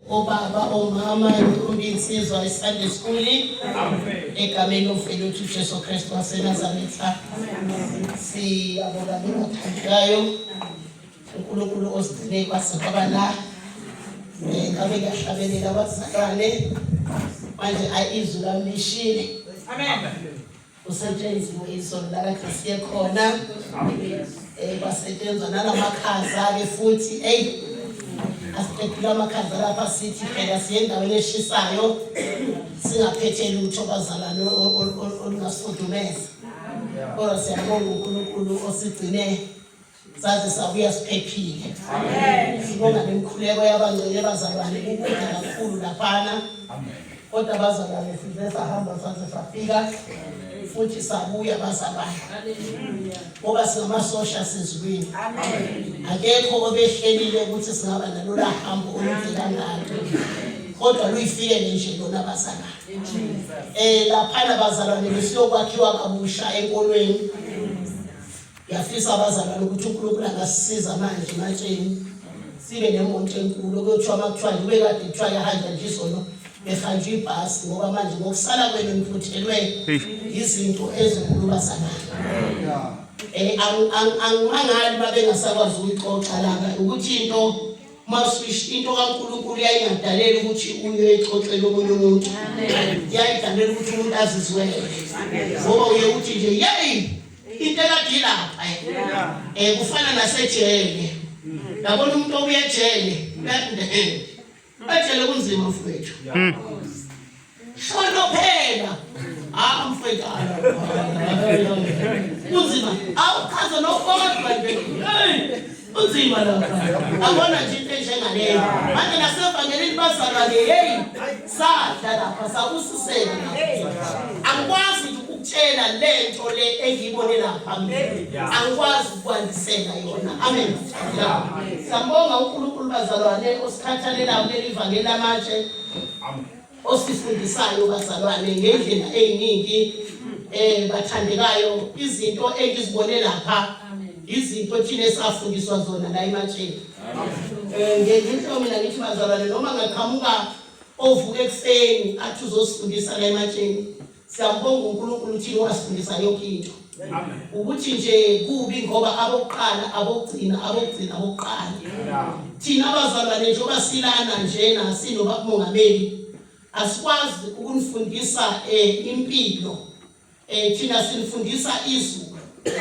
obaba omama imfundo insizwa isunday school egameni ofile uthi ujesu kristu wasenazaretha siyabonga bengathandekayo unkulunkulu osigcine kwase kwaba la um eh, ngabe kuyahlabelela abazalwane manje ayi izwi lami lishile kusetshenzwe isono lakade siye khona um eh, kwasetshenzwa nalamakhaza-ke futhi eyi asiqedile amakhaza lapha sithi phela siye endaweni eshisayo singaphethe lutho bazalwane olungasifudumeza kodwa siyabonga unkulunkulu osigcine saze sabuya siphephile sibonga nemkhuleko yabangcele bazalwane kukuda kakhulu laphana kodwa bazalwane size sahamba saze safika futhi sabuya bazalwane ngoba singamasosha sizulwini akekho obehlelile ukuthi singaba nalola hambo olude kangalo kodwa luyifikele nje lona bazalwane um laphana bazalwane besiyokwakhiwa kabusha enkolweni Ngiyafisa abazalwane ukuthi uNkulunkulu angasisiza manje matsheni sibe nemonto enkulu okuthiwa uma kuthiwa nje bekade kuthiwa yahanja nje izono behanjwa ibhasi ngoba manje ngokusala kwenu niphuthelwe izinto ezinkulu bazalwane um angimangali uma bengasakwazi ukuyixoxa lana ukuthi into masuish into kaNkulunkulu yayingadaleli ukuthi uye exoxele omunye umuntu yayidaleli ukuthi umuntu azizwele ngoba uye uthi nje yeyi into ekadila lapha eh kufana nasejele yabona umuntu obuya ejele uyadindehela ejele kunzima mfowethu hmm. shono phela ah mfowethu kunzima awuchaze nokodwa nje kunzima lapha abona nje into enjengaleyo manje nasevangelini bazalwane heyi sadla lapha sakususela angikwazi nje ukutshela le nto le engiyibone lapha angikwazi ukwandisela yona amen siyambonga unkulunkulu bazalwane osikhathalelayo kuleli vangeli lamanje osifundisayo bazalwane ngendlela eyiningi eh bathandekayo izinto engizibone lapha izinto thina esafundiswa zona la ematsheni eh ngenhlo mina ngithi bazalwane noma ngaqhamuka ovuka ekuseni athi uzosifundisa la ematsheni Siyambonga uNkulunkulu thina owasifundisa yonke into. Ukuthi nje kubi ngoba abokuqala abokugcina abokugcina abokuqala. Thina abazalwane nje obasilana nje nasino bakumongameli asikwazi ukunifundisa eh impilo. Eh thina sinifundisa izwi.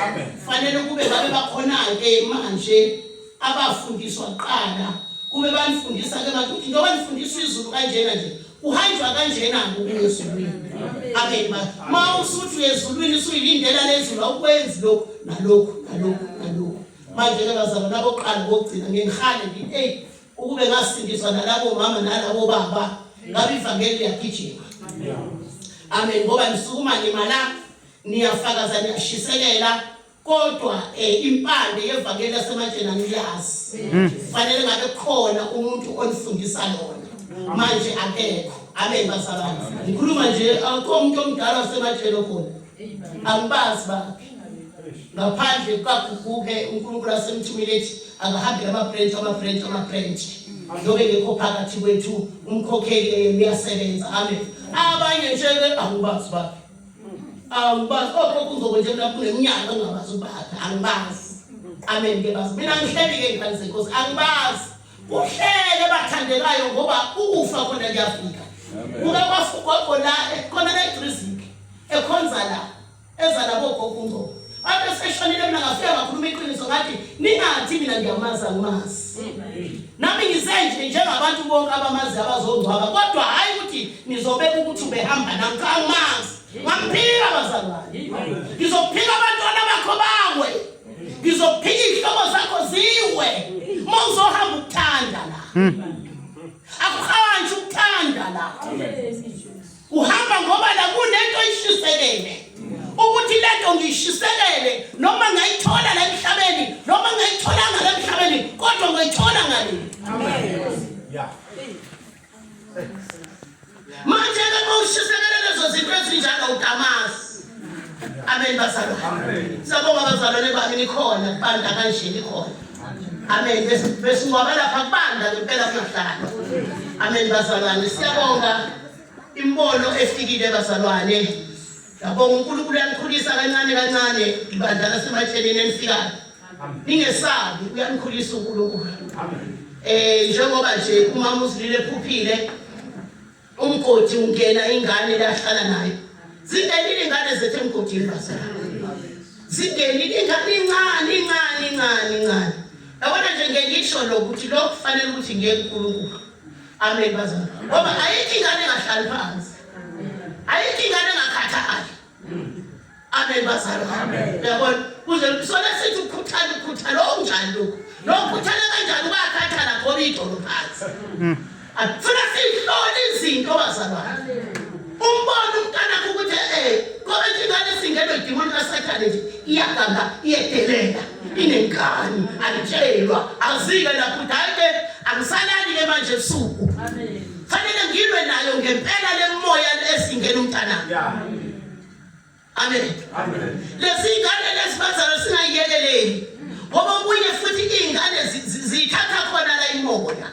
Amen. Fanele kube babe bakhona ke manje abafundiswa kuqala. Kube banifundisa ke manje ukuthi njengoba nifundisa izulu kanjena nje kuhanjwa kanjena-ke ukuya ezulwini amen ba ma usuthi uya ezulwini usuyilindela lezulu awukwenzi lokhu nalokhu nalokhu nalokhu manje-ke bazalwa nabokuqala kokugcina ngengihale ngithi eyi ukube ngasindiswa nalabo mama nalabo baba ngabe ivangeli liyagijima amen ngoba nisukuma nimala niyafakaza niyashisekela kodwa eh, impande yevangeli lasematsheni angiyazi mm. kufanele ngabe khona umuntu onifundisa lona manje akekho abe bazalwane ngikhuluma nje akukho umuntu omdala wasematsheni okhona angibazi bakhe ngaphandle kukaguguke unkulunkulu asemthumile ethi akahambile amabranch amabranch amabranch ndobe ngekho phakathi kwethu umkhokheli uyasebenza amen abanye nje-ke angibazi bakhe awubazi okhokho oh, uzokwenje mna kule nyanga ungabazi ubaphi angibazi amen ke bazi mina ngihleli ke ngifani senkosi angibazi kuhlele bathandekayo ngoba ukufa khona kuyafika kuka kwafugogo la ekhona la edriziki ekhonza la eza labogogo ungcobo Ade seshonile mina ngafika ngakhuluma iqiniso ngathi ningathi mina ngiyamazi angimazi. Nami ngisenje njengabantu bonke abamazi abazongcwaba kodwa hayi ukuthi nizobeka ukuthi ubehamba nami cha angimazi. Ngamphika bazalwane. Ngizophika abantwana bakho bawe. Ngizophika ihlobo zakho ziwe. Uma uzohamba ukuthanda la. Hmm. Akuhanji ukuthanda la. Amen. Uhamba ngoba la kunento ishisekele. Ukuthi lento ngishisekele noma ngayithola la emhlabeni noma ngayitholanga la emhlabeni kodwa ngayithola ngani. Amen. Yeah. Manje ke mawushisekele lezo zinto ezinjalo udamazi. Amen bazalwa. Amen. Sabonga bazalwane bami nikhona banda kanje nikhona. Amen. Besingcwaba lapha kubanda ngempela kuyahlala. Amen bazalwane. Siyabonga. Imbono efikile bazalwane. Yabonga uNkulunkulu uyanikhulisa kancane kancane ibandla laseMathenini enifikayo. Ningesabi uyanikhulisa uNkulunkulu. Amen. Eh njengoba nje umama uzilile phuphile umgodi ungena ingane lahlala nayo. Zingenile ingane zethu emgodini bazalwane. Zingenile ingane incane incane incane incane. Yabona nje ngengisho lokuthi lokufanele ukuthi ngeke uNkulunkulu. Amen bazana. Ngoba ayikho ingane engahlali phansi. Ayikho ingane engakhathali. Amen bazana. Yabona kuze sona sithi ukukhuthana ukukhuthana okunjani lokho. Lokho ukukhuthana kanjani ubakhathala khona idolo phansi. Hmm. Akufuna sihlole izinto bazalwane. Umbona umntana ukuthi eh ngoba ingane singenwe idimoni kaSathane nje iyaganga iyedelela. inengane alitshelwa azike lapho dayike angisalali ke manje ebusuku fanele ngilwe nayo ngempela lemoya esingena umntana amen lezi ngane lezi bazalo singayiyekeleli ngoba okunye futhi iy'ngane ziyithatha khona la imoya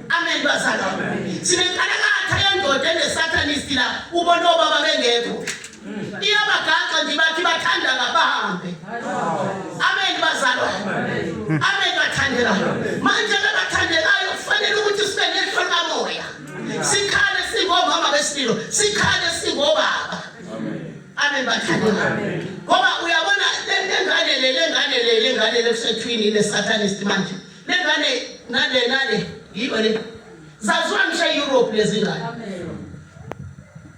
amen bazalo sinenkalakatha yendoda enesathanisti la ubona obaba bengekho iyabagaxa nje bathi bathanda ngabahambe amen bazalwane amen bathandelayo manje labathandelayo kufanele ukuthi sibe nehlo likamoya sikhale singomama besilo sikhale singobaba amen bathandelayo ngoba uyabona lengane le lengane le lengane le kusethwini le satanist manje lengane nale nale yiyo le zaziwa ngisho e-europe lezingane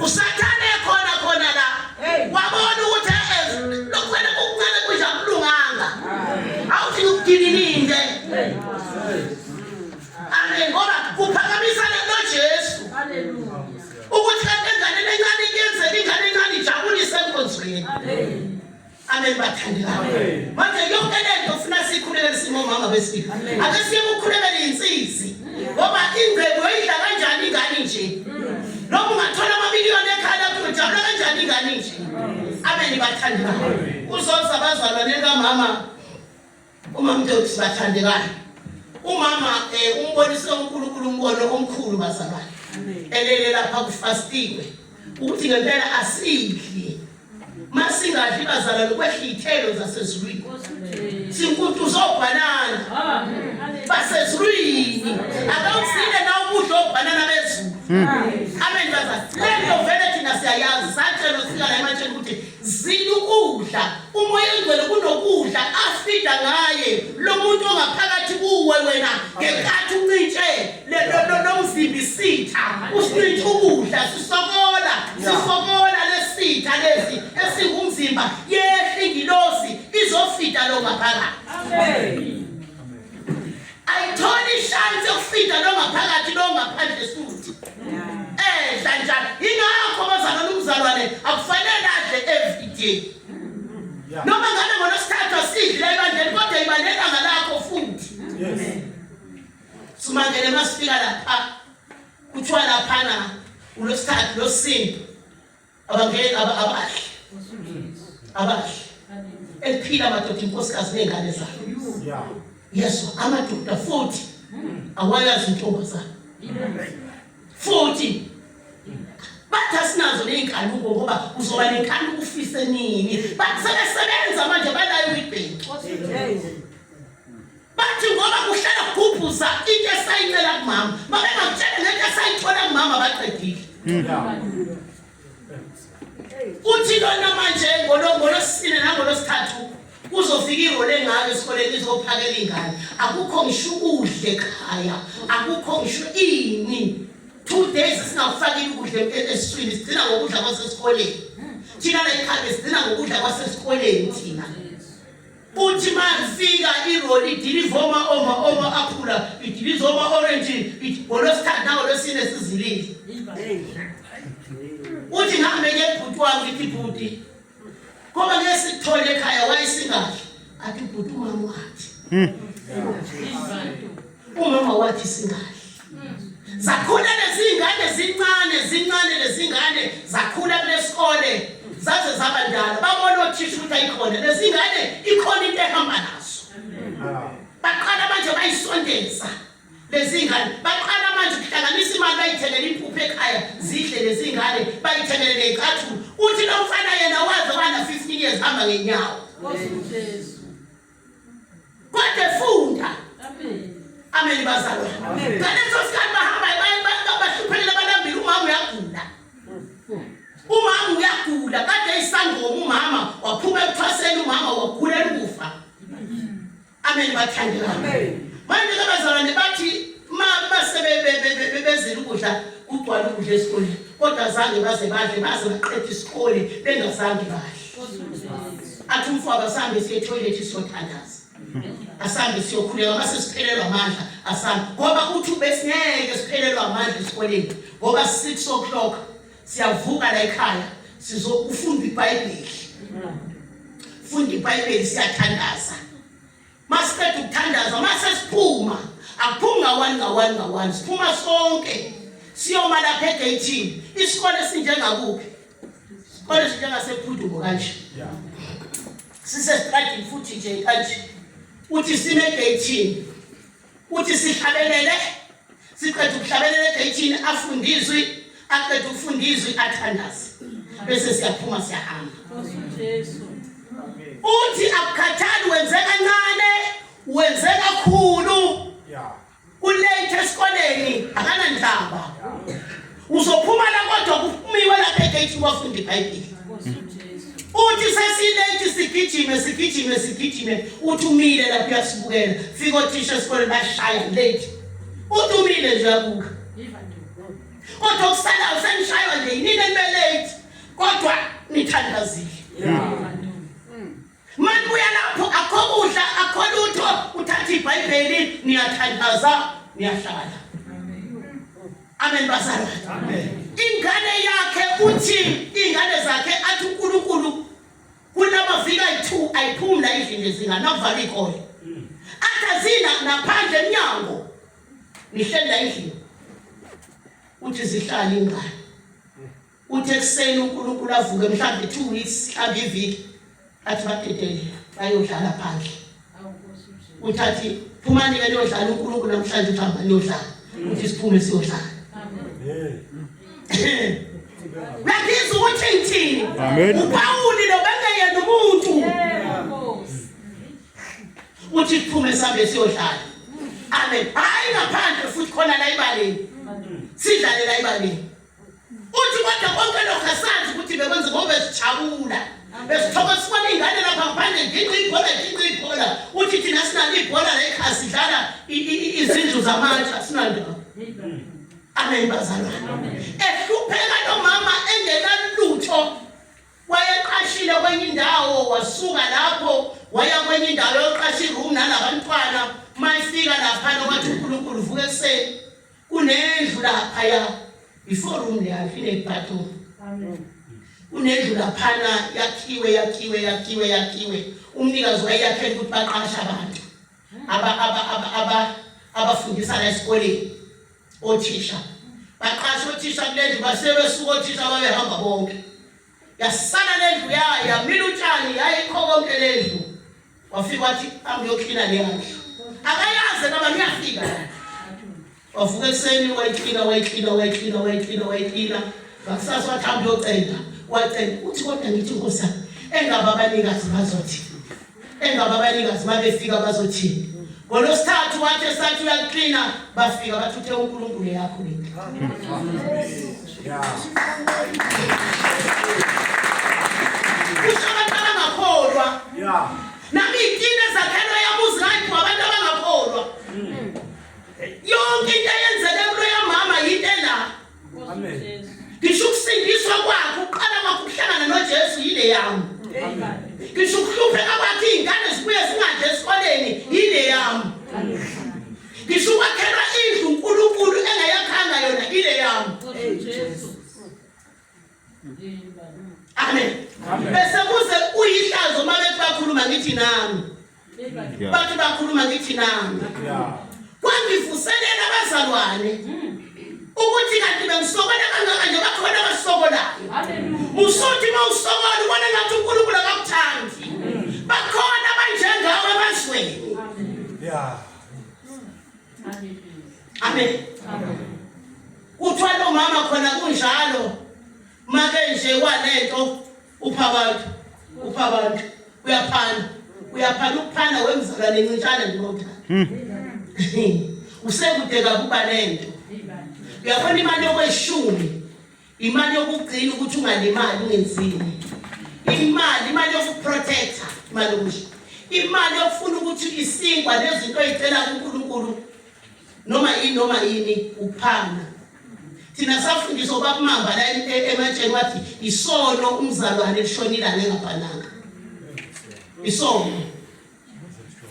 usathane khona khona la wabona ukuthi lokukhwela kokuncane kudla kulunganga awufika ukudinilinde amen ngoba kuphakamisa lento jesu ukuthi kanti enganeni encane kuyenzeka ingane encane ijabulise enkonzweni Amen bathandekayo. Manje yonke lento ufuna sikhulele singomama besifika. Ake siye kukhulekela insizwe. Ngoba ingcebo uyidla kanjani ingane nje? Noma ungathola amamiliyoni ekhaya lakho ujabula kanjani ingane nje? Amen bathandekayo. Uzoza bazalwane kamama Uma mntu sibathandekayo umama eh, umbonise uNkulunkulu umbono omkhulu bazalwane elele lapha kufastiwe ukuthi ngempela asidli masingadli bazalwane ukwehla iy'thelo zasezulwini sinkuntuza obhanana basezulwini akawusile na ukudla obhanana bezulu hmm. amen bazalwane le nto vele thina siyayazi satshelwa sika la ematsheni ukuthi Zila ukudla. Umoya ongcwele kunokudla afida ngaye lo muntu ongaphakathi kuwe wena ngenkathi uncintshe lomzimbi sitha usincintshe ukudla sisokola sisokola lesitha lesi esingumzimba yehla ingilosi izofida lo ngaphakathi. Amen. ayitholi ishansi yokufida longaphakathi longaphandle futhi edla eh, njalo ingakho abazalwane umzalwane akufanele adle every day noma ngabe ngolosithathu asidle ebandleni kodwa ibalelanga lakho futhi sumangele masifika lapha kuthiwa laphana ulosithathu losinto abangeke abahle abahle eliphila amadoda inkosikazi ney'ngane zayo yeso amadoda futhi awayazi intombazane futhi bathi asinazo ney'nkanuko ngoba uzoba nenkanuko ufise nini bathi sebesebenza manje balayo ibheki bathi ngoba kuhlala kugubhuza into esayicela kumama babengakutshela ngento esayithola kumama baqedile uthi lona manje ngolosine nangolosithathu kuzofika ihole engaka esikoleni izophakela ingane akukho ngisho ukudla ekhaya akukho ngisho ini two days singakufakile ukudla esiswini sigcina ngokudla kwasesikoleni thina la ekhaya sigcina ngokudla kwasesikoleni thina Kuthi malifika iroli dilivoma oma oma aphula idilizoma orange ngolwesithathu nangolwesine sizilile. Uthi ngihambe ke bhuti wami ngithi bhuti. Ngoba ke sithole ekhaya wayesingahle. Athi bhuti umama wathi. Hmm. Umama wathi singahle. Zakhula lezingane zincane zincane lezingane zakhula kulesikole zaze zaba ndala babona othisha ukuthi ayikhona lezingane ikhona into ehamba nazo. Baqala manje bayisondeza lezingane baqala manje kuhlanganisa imali bayithelele impuphu ekhaya zidle lezingane bayithelele ngecathulo uthi lo mfana yena waze wana 15 years hamba ngenyawo. Nkosi uJesu. Kodwa funda. Amen. Amen bazalwa. Ngaleso sikhathi bahamba bahluphelela abalambile umama uyagula. Umama uyagula kade isangoma umama waphuma ekuthwaseni umama wagula ukufa. Amen bathandekayo. Amen. Manje ke bazalwane bathi sebebezela ukudla kugcwala ukudla esikoleni kodwa zange baze badle baze baqeda isikole bengazange badle athi umfwaba sambe siye toilet siyothandaza asambe siyokhuleka mase siphelelwa amandla asambe ngoba uthi ubesingeke siphelelwa amandla esikoleni ngoba 6 o'clock siyavuka la ekhaya sizokufunda ibhayibheli funda ibhayibheli siyathandaza masiqeda ukuthandaza masesiphuma akuphumi ngawani ngawani ngawani siphuma sonke siyoma lapha egeyithini isikole sinjengakuphi isikole sinjengasephudumo kanje sisestradini futhi nje kanje uthi sime egeyithini uthi sihlabelele siqeda ukuhlabelela egeyithini afunde izwi aqeda ukufunda izwi athandaze bese siyaphuma siyahamba uthi akukhathali wenze kancane wenze kakhulu kulate esikoleni akanandaba Uzophuma la kodwa kumiwe lapha egate wafunda iBhayibheli. Uthi sesilate sigijime sigijime sigijime uthi umile lapha uyasibukela. Fika othisha esikoleni bashaya late. Uthi umile nje uyabuka. Kodwa kusala usenishaywa nje yini enibelate kodwa nithandazile. Yeah. Manibuya lapho akho kudla akho lutho uthatha ibhayibheli niyathandaza niyahlala amen bazalwane amen ingane yakhe uthi ingane zakhe athi uNkulunkulu kunamavika ayi2 ayiphumla endlini lezingane avala ikole athazina naphandle emnyango nihleli la endlini uthi zihlala ingane Uthi ekuseni uNkulunkulu avuke mhlawumbe 2 weeks mhlawumbe iviki athi badedele bayodlala phandle. Uthathi phumani ke liyodlala uNkulunkulu namhlanje uthamba liyodlala. Uthi siphume siyodlala. Ngakizwa ukuthi ngithini. UPawuli lo bengeyena umuntu. Uthi siphume sambe siyodlala. Amen. Hayi ngaphandle futhi khona la ibaleni. Sidlale la ibaleni. uthi kodwa konke lokhu asazi ukuthi bekwenza ngoba sijabula besithokoza sibona iy'ngane lapha ngaphandle nginqi ibhola nginqi ibhola uthi thina sinalo ibhola la ekhaya sidlala izindlu zamatsha sinalo amen bazalwane ehlupheka nomama engenalutho wayeqashile kwenye indawo wasuka lapho waya kwenye indawo yoqasha iroom nalabantwana mayifika laphana wathi unkulunkulu vuka ekuseni Kunendlu laphaya before room leyo inebhathroom. Amen. Kunendlu laphana yakhiwe yakhiwe yakhiwe yakhiwe umnikazi wayeyakhela ukuthi baqashe abantu aba aba aba aba abafundisa la esikoleni othisha baqashe othisha kulendlu basebesuka othisha babehamba bonke yasala lendlu yayo yamila utshani yayikho konke lendlu wafika wathi angiyoklina le ndlu akayazi noma ngiyafika wavuka ekuseni wayiklina wayiklina wayiklina wayiklina wayiklina ngakusasa wathi angiyocenda wacenda uthi kodwa ngithi nkosa engaba abanikazi bazothi emva kwabanikazi babefika bazothini ngolwesithathu wathi esathi uyaklina bafika bathi uthe unkulunkulu yakho lento kusho abantu abangakholwa nami iy'tini ezakhelwe yabuzi ngayiphi wabantu abangakholwa yonke into eyenzeke kulo yamama yinto ela ngisho ukusindiswa kwakhe uqala kwakhe ukuhlangana nojesu yile yami ngisho ukuhlupheka kwakhe iy'ngane zibuye zingadle esikoleni yile yami ngisho ukwakhelwa indlu unkulunkulu engayakhanga yona ile yami amen bese kuze uyihlazo uma bethi bakhuluma ngithi nami bathi bakhuluma ngithi nami kwangivuselela abazalwane ukuthi kanti bengisokola kangaka nje bakhona abasokolayo usuthi uma usokola ubona ngathi unkulunkulu akakuthandi bakhona abanjengawe emazweni amen kuthwala umama khona kunjalo make nje walento upha abantu upha abantu uyaphana uyaphana ukuphana wemzalwane ncintshana ndinothanda hmm. usekude kakuba lento uyabona imali yokweshumi Imali yokugcina ukuthi ungalimali ungenzini. Imali imali yokuprotecta imali okusho. Imali yokufuna ukuthi isinkwa nezinto ezicela kuNkulunkulu noma yini noma yini uphanga. Thina safundiswa ubabumamba la e, e, ematsheni wathi isono umzalwane lishonile angengabhalanga. Isono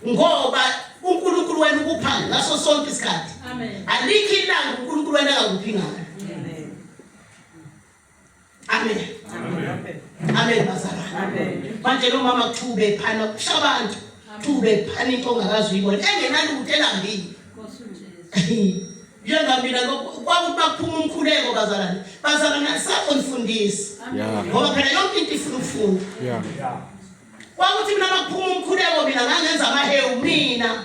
ngoba uNkulunkulu wena ukupha ngaso sonke isikhathi alikho ilanga uNkulunkulu wena akakuphi ngalo amen amen bazalwane manje lo mama kuthiwa ephana kusha abantu kuthiwa ephana into ongakazi uyibona engenalutho elambile njenga mina kwakuthi baphuma umkhuleko bazalwane bazalwane akusakho nifundisi ngoba phela yonke into ifuna ukufunda Kwakuthi mina makuphuma umkhuleko mina ngangenza amahewu mina.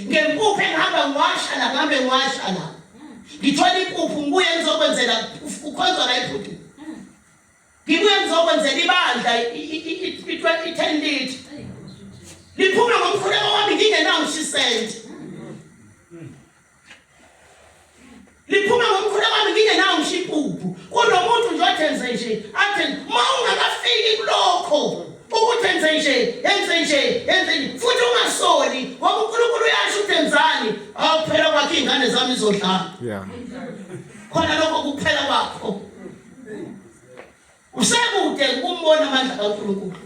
Ngempuphu engihamba ngiwasha la ngihambe ngiwasha la. Ngithola impuphu ngibuye ngizokwenzela ukhonzwa la ibhuti. Ngibuye ngizokwenzela ibandla i-10 litre. Liphuma ngomkhuleko wami ngingenawo 6 cent. liphuma ngomkhulu wami ngine nawo ngisho ipuphu kunomuntu nje othenze nje athe ma ungakafiki kulokho ukuthi enze nje enze nje enze nje futhi ungasoli ngoba uNkulunkulu uyasho ukuthi enzani awuphela kwakhe ingane zami izodlala yeah khona lokho kuphela kwakho Usekude ukumbona amandla kaNkulunkulu.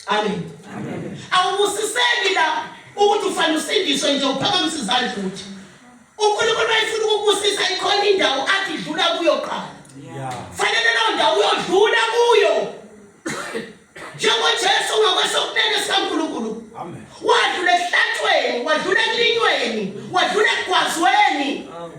Amen. Amen. Awubusiseki la ukuthi ufanele usindiswe nje uphakamise izandla ukuthi uNkulunkulu wayefuna ukubusisa ikhona indawo athi dlula kuyo qala. Yeah. Fanele leyo ndawo uyodlula kuyo. Njengoba Jesu ngakwesokunene sikaNkulunkulu. Amen. Wadlula ehlathweni, wadlula ekulinyweni, wadlula ekugwazweni. Amen.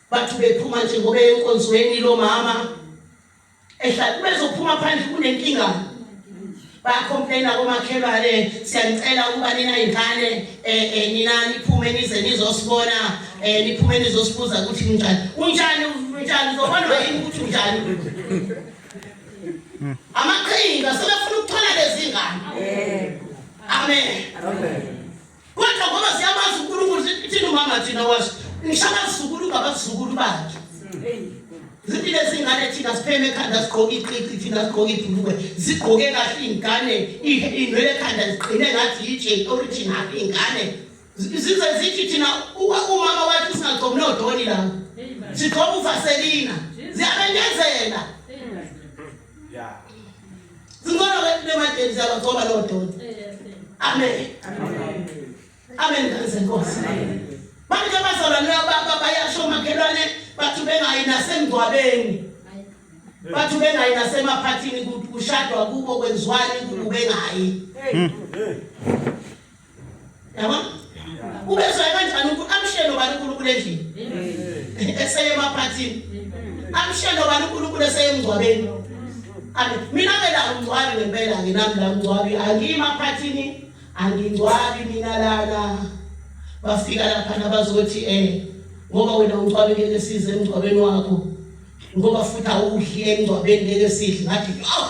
Bathi bephuma nje ngoba enkonzweni lo mama ehlala bezophuma phandle kunenkinga bayacomplaina komakhelwane siyanicela ukuba nina ingane eh, eh, nina niphume nize nizosibona eh, niphume nizosibuza ukuthi kunjani unjani unjani uzobonwa yini ukuthi unjani amaqhinga sebefuna ukuthola lezi ngane amen Kodwa ngoba siyamazi uNkulunkulu sithini uma ngathina washo ngishabazukulu ngabazukulu bakhe. Zithi lezingane thina sipheme ekhanda sigqoke iqiqi thina sigqoke ibhulukwe zigqoke kahle iy'ngane inwele ekhanda ziqine ngathi yitshe original iy'ngane zize zithi thina umama wathi singagcomi nodoni lapho sigqoka uvaselina ziyabenyezela Yeah. Zingona wethu nemadeni zabo ngoba lo doni. Amen. Amen. Amen ngase Nkosi. Manje abazalwane baba bayasho omakhelwane bathu bengayi nasengcwabeni. Bathu bengayi nasemaphathini kushadwa kubo kwenziwani kubengayi. Hey. yabona ubezwayo kanjani ukuthi amshelo bani uNkulunkulu endlini eseye emaphathini amshelo bani uNkulunkulu eseye emngcwabeni mina ke la ngingcwabi ngempela ke nami la ngingcwabi angiyimaphathini angingcwabi mina lana bafika lapha nabazothi eh ngoba wena ungcwabi ngeke size emngcwabeni wakho ngoba futhi awudli emngcwabeni ngeke sidle ngathi oh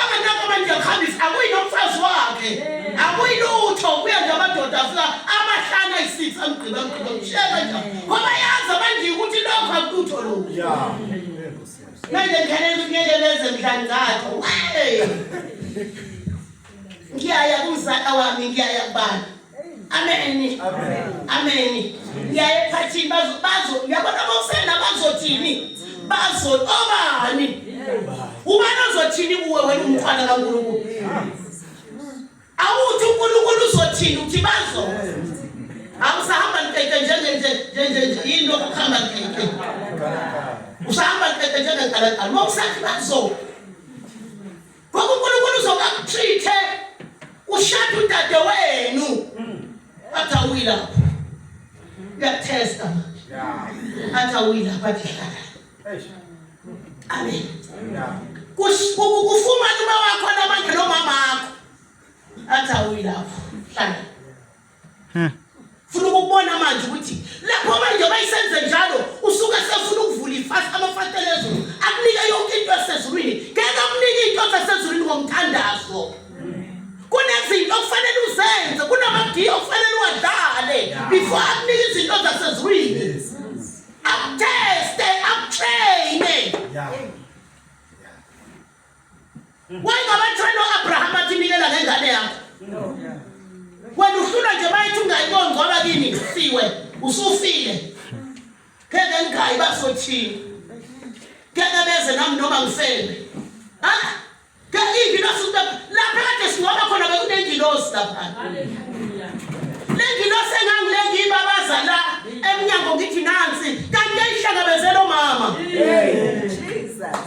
Abanako abantu yakhambisa akuyi nomfazi wakhe. Akuyi lutho kuya nje amadoda afika amahlanu ayisitha amgqiba amgqiba mshela nje. Ngoba yazi abanje ukuthi lokho akutho lokho. Yeah. Manje ngene ngeke leze mdlangatho. Hey. Ngiyaya kumzala wami ngiyaya kubani? Amen. Amen. Ngiyaye phathini bazo bazo uyabona bosena bazothini? Bazo obani? Ubani ozothini kuwe wena umntwana kaNkulunkulu? Awuthi uNkulunkulu uzothini uthi bazo? Awusahamba nkeke njenge nje nje nje yini okuhamba nkeke? Usahamba nkeke njenge kalakala. Mawusathi bazo. Ngoba uNkulunkulu uzoba kuchithe ushada udade wenu. Athi awuyila. Uyakuthesta manje. Yeah. Athi awuyila bathi hlala. Eish. Amen. Yeah. Kufumana uma wakho namanje nomama wakho. Athi awuyilapho. Hlala. Huh. Funa ukubona manje ukuthi lapho manje bayisenze njalo usuke sefuna ukuvula ifasi amafatela ezulu akunike yonke into esezulwini ngeke akunike into esezulwini ngomthandazo kunezinto okufanele uzenze kunamadiya okufanele uwadlale before akunike izinto zasezulwini akuteste akutraine yeah. Wayengabatshela uAbraham athi nikela ngengane yakho. Wena uhlula nje bayithi ungayiboni ngoba kini siwe usufile. Ngeke ngigayi basothini. Ngeke beze nami noma ngifebe. Ha? Ngeke ingilosi into lapha kade singoba khona bekunengilosi lapha. Haleluya. Lengilosi engangile ngibabaza la emnyango ngithi nansi kanti yayihlangabezela omama. Jesus.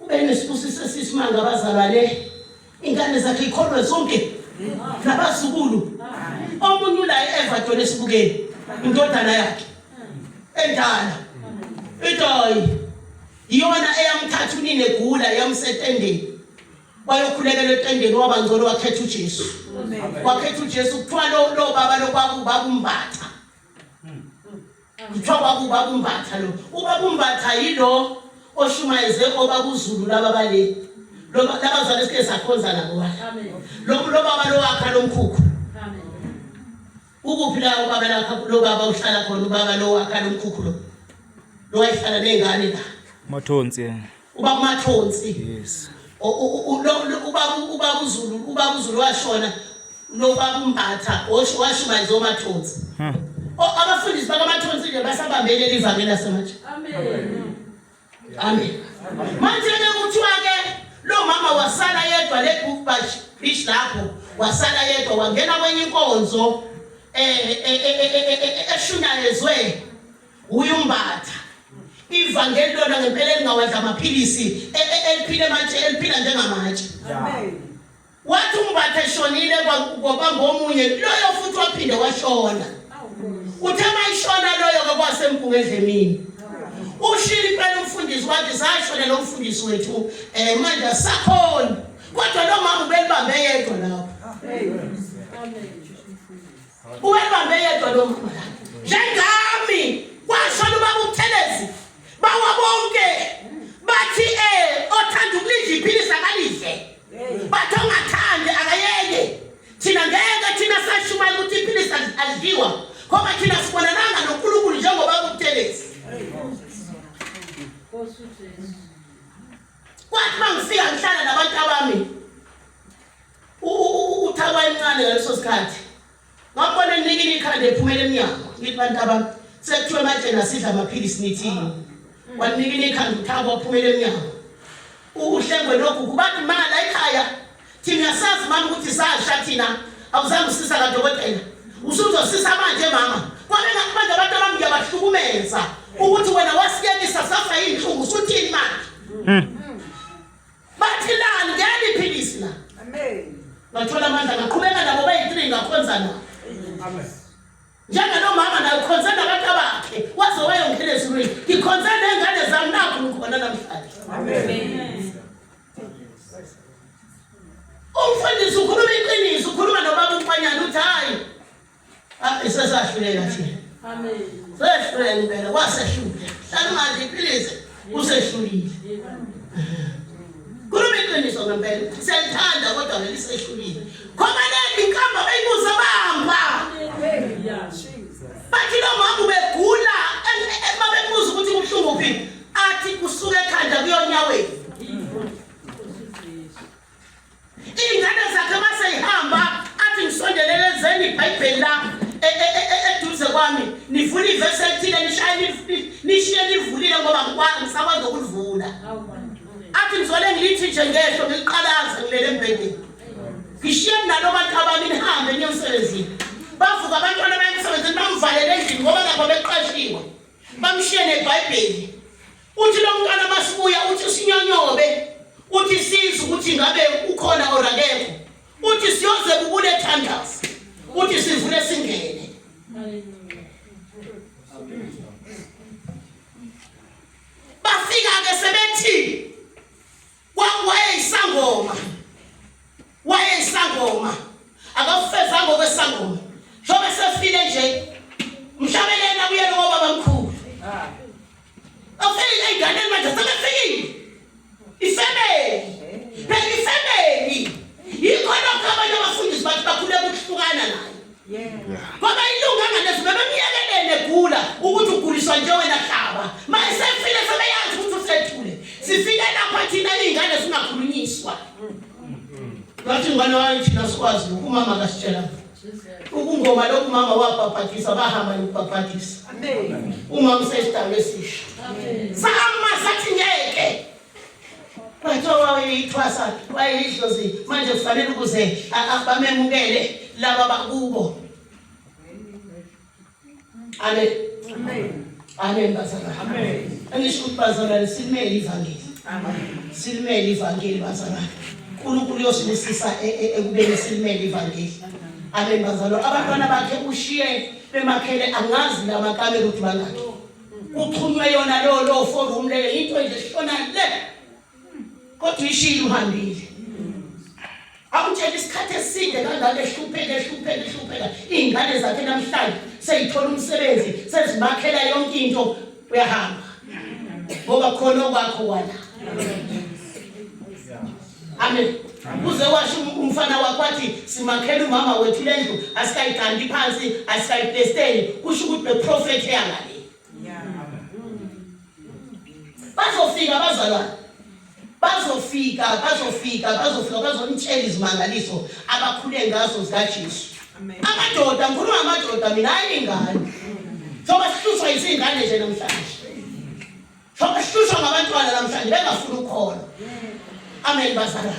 Ube nesibusiso esisimanga abazalwane. Ingane zakhe ikholwe zonke. Nabazukulu. Omunye ula eEverton esibukeni. Indodana yakhe. Endala. Itoyi. Iyona eyamthatha unine gula yamsetendeni. Wayokhulekela etendeni waba ngcono wakhetha uJesu. Wakhetha uJesu kuthiwa lo baba lo kwakuba kumbatha. kuthiwa kwakuba kumbatha lo uba kumbatha yilo oshumayeze oba kuzulu laba bale labazwana esike sakhonza nabo lobaba lowakha lomkhukhu ukuphi la ubaba lakha lobaba uhlala khona ubaba lowakha lomkhukhu lo lowayihlala ney'ngane la mathonsi uba kumathonsi yes ubaba uzulu ubaba uzulu washona nobaba umbatha washumayeza omathonsi hmm. abafundisi bakamathonsi nje basabambele livangeli lasemanje amen manje ke kuthiwa-ke lo mama wasala yedwa le book bash bish lapho wasala yedwa wangena kwenye inkonzo um eshunyayezwe uyumbatha ivangeli lona ngempela elingawadla amaphilisi e, e, eliphile manje eliphila njengamatshe wathi umbatha eshonile kwabamba omunye loyo futhi waphinde washona uthe mayishona loyo-ke kwasempunga edlemini ushile impela umfundisi wathi sashona lo mfundisi wethu um eh, manje asakhoni kodwa lo mama ubelibambe yedwa lapho Ubebambe yedwa lo mama la. Njengami kwashona ubaba uButhelezi bawa bonke bathi eh othanda ukulidla iphilisa kalidle. Bathi ongathandi akayeke. Thina ngeke thina sashumayela ukuthi iphilisa alidliwa. Ngoba thina sibonananga noNkulunkulu njengoba uButhelezi. Nkosi uJesu. Kwathi mangifika ngihlala nabantu abami uthakwa encane ngaleso sikhathi ngakubona enikini ikhanda ephumela emnyango ngithi bantu abantu sekuthiwe manje nasidla amaphilisi nithini wanikini ikhanda uthakwa waphumela emnyango uhlengwe lokhu kubathi mala ekhaya thina sazi mama ukuthi sasha thina awuzange usisa kadokotela usuzosisa manje mama kwabena kubanje abantu abami ngiyabahlukumeza ukuthi wena wasiyekisa safa yinhlungu usuthini manje hmm. Bathi lani ngeke iphilisi la. Amen. Bathola amandla ngaqhubeka nabo bayi-3 ngakhonza nabo. Amen. Njengalo mama naye ukhonze nabantu abakhe waze wayongena ezulwini. Ngikhonze nengane zami nakho ngikhona namhlanje. Amen. Umfundisi ukhuluma iqiniso, ukhuluma nobaba uMfanyana uthi hayi Ah, isesahluleka thina. Amen. Sehluleka impela wasehluleka. Hlala manje iphilise usehlulile. Khuluma iqiniso ngempela. Siyalithanda kodwa ngeke sehlulile. Khona leli inkamba bayibuza bamba. Bathi lo mama ubegula uma bebuza ukuthi kubuhlungu phi athi kusuka ekhanda kuyonyaweni. Iy'ngane zakhe uma seyihamba athi ngisondelelezeni ibhayibheli la e, e, e, eduze kwami nivule ivesi elithile nishiye livulile ngoba ngisakwazi ukulivula athi ngizole ngilithi nje ngehlo ngiliqalaza ngilele embhedeni ngishiye nalo bantu abami nihambe niye emsebenzini bavuka abantwana baye emsebenzini bamvalele endlini ngoba lapho beqashiwe bamshiye nebhayibheli Uthi lo mntwana masibuya uthi usinyonyobe uthi siza ukuthi ngabe ukhona or akekho uthi siyoze kubule thandaza uthi sivule singene bafika-ke sebethi wayeyisangoma wayeyisangoma akafezanga okwesangoma njengoba sefile nje mhlabele yena kuyena ngobaba mkhulu afike eyinganeni manje sebefikile ifemeli phela ifemeli yikho lokho abanye abafundisi bathi bakhuleka ukuhlukana nayo ngoba ilunga ngalezi bebemyekelele egula ukuthi uguliswa nje wena hlaba ma esefile sebeyazi ukuthi usethule sifike lapha thina iy'ngane zingakhulunyiswa ngathi ngane wayo thina sikwazi lokhu umama kasitshela ukungoma lokhu umama wabhabhadisa bahamba yokubhabhadisa umama usesidalo esisha sahamba sathi ngeke Kuthiwa wayeyithwasa wayeyidlozi manje kufanele ukuze bamemukele laba bakubo. Amen. Amen. Amen bazalwane. Amen. Angisho ukuthi bazalwane silimele ivangeli. Amen. Silimele ivangeli bazalwane. uNkulunkulu uyosibusisa e, e, ekubeni silimele ivangeli. Amen bazalwane. Abantwana bakhe ushiye bemakhele angazi lamakamelo ukuthi bangakhi. kuxhunywe yona lo lo forum leyo into nje sishona le kodwa ishilo uhambile awutshela isikhathi eside kangaka ehlupheka ehlupheka ehlupheka iy'ngane zakhe namhlanje seyithola umsebenzi sezibakhela yonke into uyahamba ngoba khona okwakho wala Amen. Uze washo um-, umfana wakho wathi simakhela umama wethu lendlu asikayigandi phansi asikayipesteli kusho ukuthi beprofethi eyangale. Bazofika bazalwane. Bazofika bazofika bazofika bazonitshela izimangaliso abakhule ngazo zikaJesu. Amen. Amadoda ngikhuluma ngamadoda mina ayingane. Soba sihluswa izingane nje namhlanje. Sokashusha ngabantwana namhlanje bengafuna ukhona. Amen bazalwa.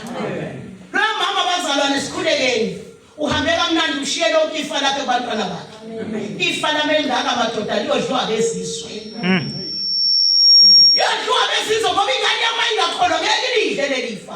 Lo mama bazalwane sikhulekeni. Uhambe kamnandi ushiye lonke ifa lakhe kubantwana bakhe. Ifa lami elingaka madoda liyodliwa bezizwe. Hmm. Yodliwa bezizwe ngoba ingane yami ayingakholwa ngeke ilidle leli fa.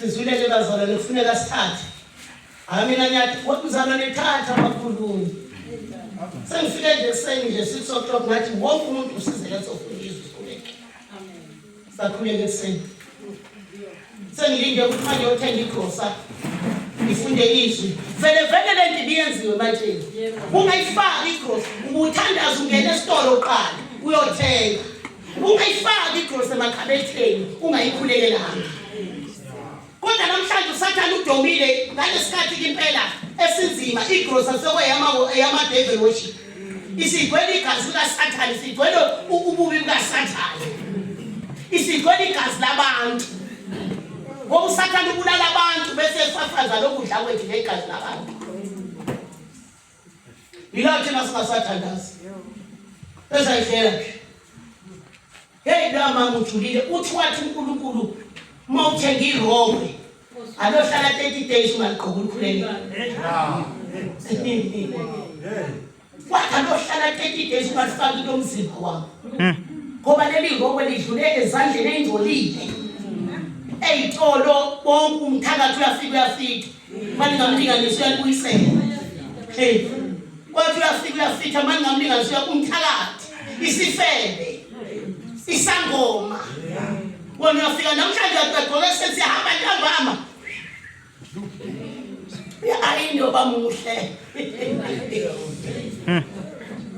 Sizwile nje bazalwane kufuneka sithathe. Hayi mina ngiyathi mzalwane thatha abakhulumi. Sengifike nje ekuseni nje 6 o'clock ngathi wonke umuntu usizele sofunda izwi sikhuleke. Amen. Sakhuleke ekuseni. Sengilinde ukukhanye othenga igrosa. Ngifunde izwi. Vele vele le nto ibiyenziwe manje. Ungayifaki igrosa. Ubuthandaza ungena esitolo uqala uyothenga. ungayifaki igrosi emakhabetheni ungayikhulekelanga kodwa namhlanje usathane udomile ngalesikhathi kimpela esinzima igrosa sekweyama-devil worship isigcwele igazi likasathane isigcwele ububi bukasathane isigcwele igazi labantu ngoba usathane ubulala abantu bese efafaza lokudla kwethu ngegazi labantu Yila thina singasathandazi. Bese ayihlela ke. Hey la mama ujulile uthi wathi uNkulunkulu uma uthenga irobhe alohlala 30 days ungaliqoka ukhuleni. Wathi alohlala 30 days ungalifaki into omzimba wami. Hmm. Ngoba leli ngokwe lidlule ezandleni engcolile. Eyitolo bonke umthakathi uyafika uyafika. Manje ngamlinga nje siyalibuyisela. Hey. Kwathi uyafika uyafitha manje ngamlinga nje umthakathi. Isifebe. Isangoma. Wona uyafika namhlanje uyagqoka sesihamba ntambama. Ya ayinto bamuhle. Hmm.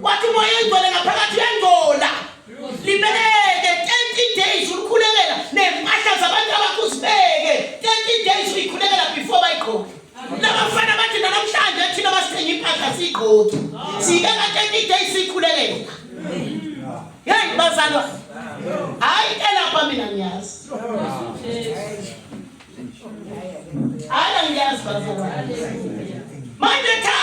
Wathi moya ingcwele ngaphakathi uyangcola. libeke 30 days ulikhulekela nempahla zabantu abakho uzibeke 30 days uyikhulekela before bayigqoke labafana bathi nanamhlanje thina basithenga impahla siyigqoki siyibeka 30 days siyikhulekela yeyi bazalwa hayi elapha mina ngiyazi hayi angiyazi bazalwa manje tha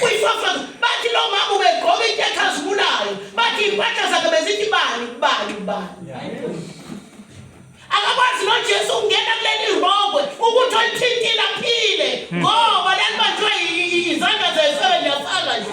Kuyifafaza bathi lo mama ubegqoka into ekhazimulayo bathi impahla zakhe bezithi bani kubani kubani. Akakwazi noJesu ukungena kuleli rongwe ukuthi olithintile aphile hmm. ngoba lalibanjwe izandla zesebe liyafaka nje.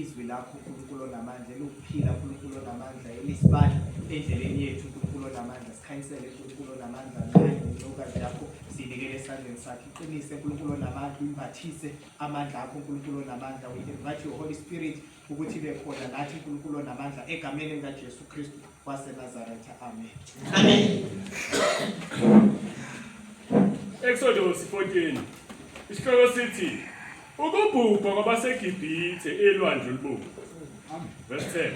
Izwi lakho uNkulunkulu onamandla eluphila uNkulunkulu onamandla elisibani endleleni yethu uNkulunkulu onamandla sikhanyisele uNkulunkulu onamandla naye nontokazi yakho sinikele esandleni sakhe iqinise uNkulunkulu onamandla uyimbathise amandla akho uNkulunkulu onamandla we invite your holy spirit ukuthi ibe khona nathi uNkulunkulu onamandla egameni likaJesu Kristu waseNazaretha. Amen. Amen. Exodus 14 isihloko sithi ukubhubha kwabaseGibhithe elwandle olubomvu. Verse 10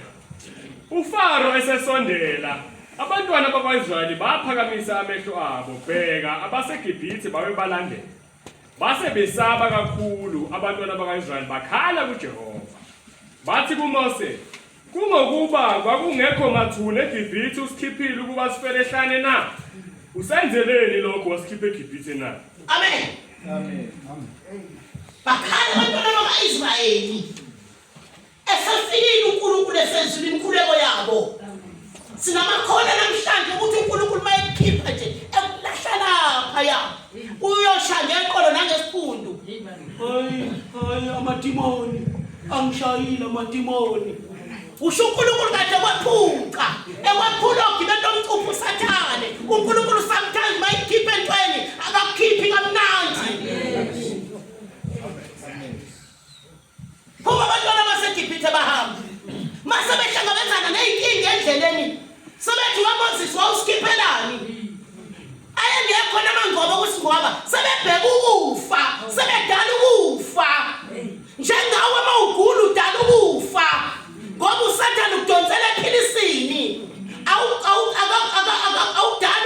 uFaro esesondela abantwana bakwaIsrayeli baphakamisa amehlo abo bheka abaseGibhithe babe balandela base besaba kakhulu abantwana bakaIsrayeli bakhala kuJehova bathi kuMose Kungokuba kwakungekho mathuna eGibhithe usikhiphile ukuba sifele ehlane na? Usenzeleni lokho wasikhipha eGibhithe na? Amen. Amen. Bakhala abantwana bakaIsrayeli esefikile uNkulunkulu esenzile imikhuleko yabo. Sinamakhono namhlanje ukuthi uNkulunkulu mayekhipha nje ekulahla lapha ya. Uyosha ngeqolo nangesiphundu. Hayi, hayi amadimoni. Angishayile amadimoni. Usho uNkulunkulu kade kwaphuca. Ekwaphula ogibela lomcuphu usathane. uNkulunkulu sometimes mayikhipha entweni akakhiphi kamnandi. Phuma abantwana baseGibhithe bahamba. Mase behlangabezana nezinkinga endleleni. Sebethi uMoses wawuskiphelani? Ayengekho namangcobo kusingoba sebebheka ukufa, sebedala ukufa. Njengawe uma ugula udala ukufa. Ngoba uSathane ukudonsela ephilisini. Awudala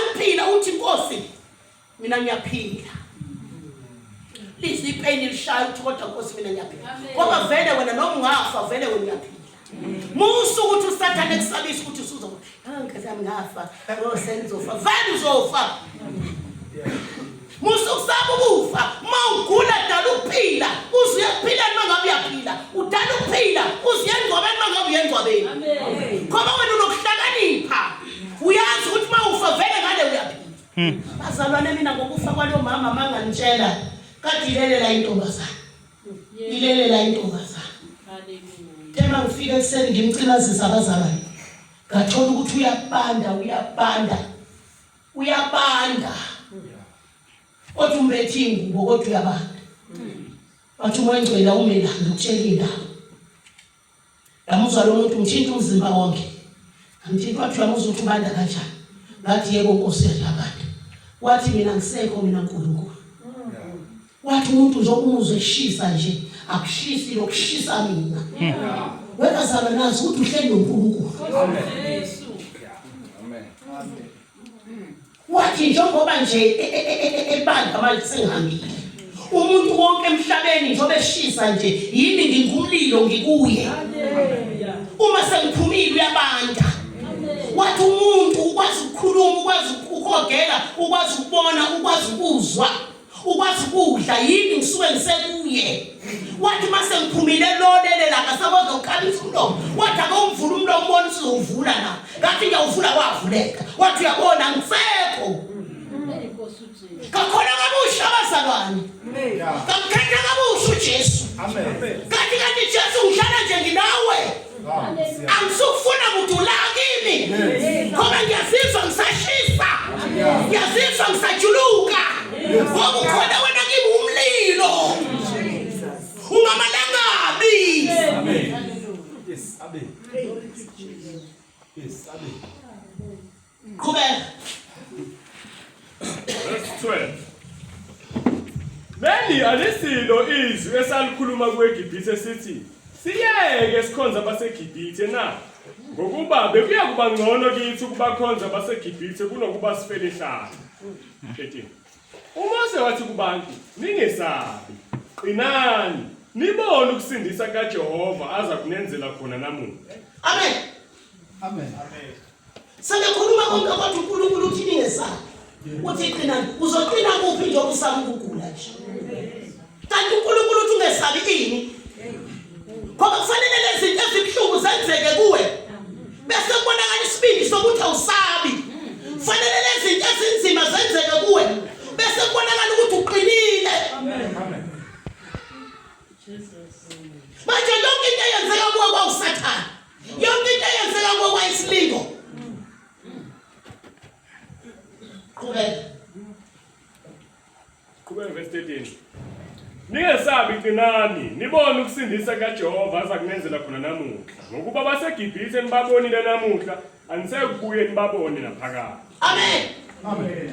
ukuphila uthi inkosi mina ngiyaphila lize ipeni lishaya ukuthi kodwa nkosi mina ngiyaphila ngoba vele wena noma ungafa vele wena uyaphila musa ukuthi usathane kusabisa ukuthi usuzofa angathi ah, ngafa oh, sengizofa vele uzofa musa ukusaba ukufa uma ugula dala ukuphila uze uyaphila noma ngabe uyaphila udala ukuphila uze uyengcwabeni noma ngabe uyengcwabeni ngoba wena unokuhlakanipha uyazi ukuthi uma ufa vele ngale uyaphila Hmm. Bazalwane mina ngokufa kwalo mama mangangitshela kadilelela intombazana. Ilelela intombazana. Thema ngifike ekuseni ngimcinazisa abazalwane. Ngathola ukuthi uyabanda uyabanda. Uyabanda. Kodwa umbethi ingubo kodwa uyabanda. Wathi umoya ngcwele awumelanga ukutshela indaba. Ngamuzwa lo muntu ngithinta umzimba wonke. Ngithinta wathi uyamuzwa ukuthi ubanda kanjani. Ngathi yebo Nkosi yadlabanda. Wathi mina ngisekho mina Nkulunkulu. Wathi umuntu nje umuzwe eshisa nje akushisi lokushisa mina. Wena zalo nazi ukuthi uhleli noNkulunkulu. Amen. Amen. Wathi njengoba nje e, e, e, ebandla manje sengihambile. Umuntu wonke emhlabeni njengoba eshisa nje yimi ngingumlilo ngikuye. Uma sengiphumile uyabanda. Wathi umuntu ukwazi ukukhuluma, ukwazi ukuhogela, ukwazi ukubona, ukwazi ukuzwa. ukwazi kudla yini ngisuke ngisekuye wathi mase ngiphumile lolele la ngasakwazi ukukhalisa umlomo wathi akomvula umlomo ubona usizowuvula na ngathi ngiyawuvula wavuleka wathi uyabona ngisekho kakhona kabusha abazalwane kamkhetha kabusha ujesu kanti kanti jesu ngihlala nje nginawe angisukufuna kudula kimi ngoba ngiyazizwa ngisashisa ngiyazizwa ngisajuluka ngoba ukhona wena kimi umlilo ungamalangabi Yes, Amen. Yes, Amen. Qhubeka. Verse 12. Leli alisilo izwi esalikhuluma kuEgibithe sithi siyeke sikhonza abaseGibithe na ngokuba bekuya kuba ngcono kithi ukubakhonza abaseGibithe kunokuba sifele ehlala. 13. UMose wathi kubantu ningesabi qinani nibone ukusindisa kaJehova aza kunenzela khona namuhla. Amen. Amen. Amen. Sebekhuluma konke kodwa uNkulunkulu uthi ningesabi. Uthi qina uzoqina kuphi nje usaba ukugula nje. Kanti uNkulunkulu uthi ungesabi ini? Ngoba kufanele lezi zinto ezibuhlungu zenzeke kuwe. Bese kubonakala isibindi sokuthi awusabi. Kufanele lezi zinto ezinzima zenzeke kuwe. Bese kubonakala ukuthi uqinile. Amen. Amen. Jesus. Manje yonke into eyenzeka kuwe kwawusathana. yonke into eyenzeka kokwayisilingo qhubeka qhubeka verse 13 Ningesabi qinani nibone ukusindisa kaJehova aza kunenzela khona namuhla ngokuba baseGibhithe nibabonile namuhla anisekubuye nibabone naphakade Amen Amen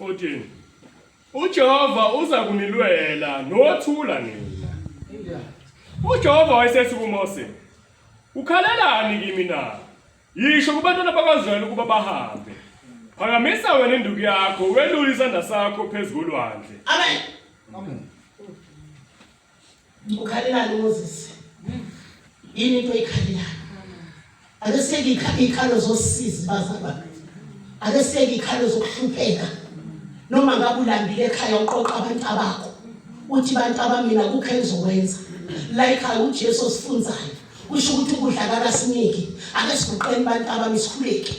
14 uJehova uza kunilwela nothula nina uJehova wayesethi kuMose ukhalelani kimi na yisho kubantwana bakwaZwela ukuba bahambe phakamisa wena induku yakho welule isandla sakho phezu kolwandle amen Ukhalelani uMoses? Yini into oyikhalelayo? Ake siyeke ikhalo zosizi bazaba. Ake siyeke ikhalo zokuhlupheka. Noma ngabe ulambile ekhaya uqoqa abantu abakho. Uthi bantu abamina kukho engizokwenza. La ikhaya uJesu osifunzayo. Usho ukuthi ukudla akasiniki. Ake siguqeni bantu abami sikhuleke.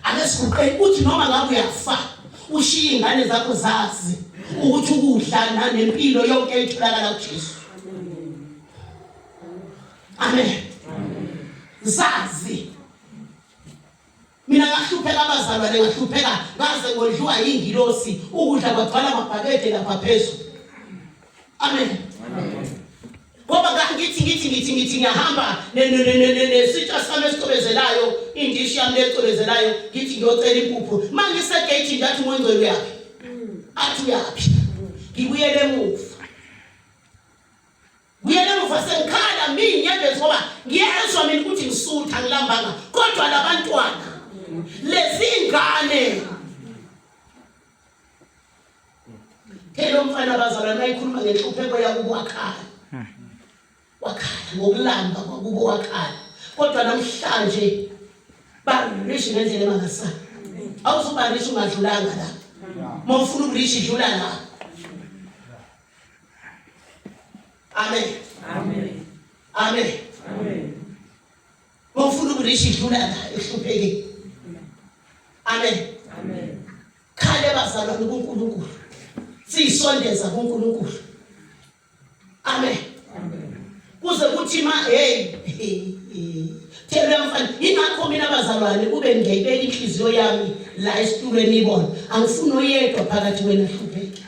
ake siguqeni uthi noma ngabe uyafa ushiye ingane zakho zazi ukuthi ukudla nanempilo yonke etholakala kuJesu amen zazi mina ngahlupheka abazalwane ngahlupheka ngaze ngodliwa yingilosi ukudla kwagcwala amabhakede lapha phezulu amen, amen. ngoba kangithi ngithi ngithi ngithi ngiyahamba nesitsha sami esicobezelayo indishi yami lecobezelayo ngithi ngiyocela impuphu uma ngisegeyithini ngathi umongcwele uyaphi athi uyaphi ngibuyele emuva buyele emuva sengikhala mi nginyembezi ngoba ngiyezwa mina ukuthi ngisutha ngilambanga kodwa labantwana lezingane Phela umfana abazalwane ayikhuluma ngenhlupheko yakubo wakhala. Wakhala ngokulamba kwakubo wakhala. Kodwa namhlanje barishi ngendlela emangasana. Awuzubarishi ungadlulanga la. Mawufuna ukurishi dlula la. Amen. Amen. Amen. Amen. Wawufuna ukurisha idlula ngayo ehluphekile. Amen. Amen. Khale bazalwane kuNkulunkulu. Siyisondeza kuNkulunkulu. Amen. Amen. Kuze kuthi ma hey Thela mfana ingakho mina bazalwane kube ngiyibeka inhliziyo yami la esitulweni ibona angifuni oyedwa phakathi wena hlupheke.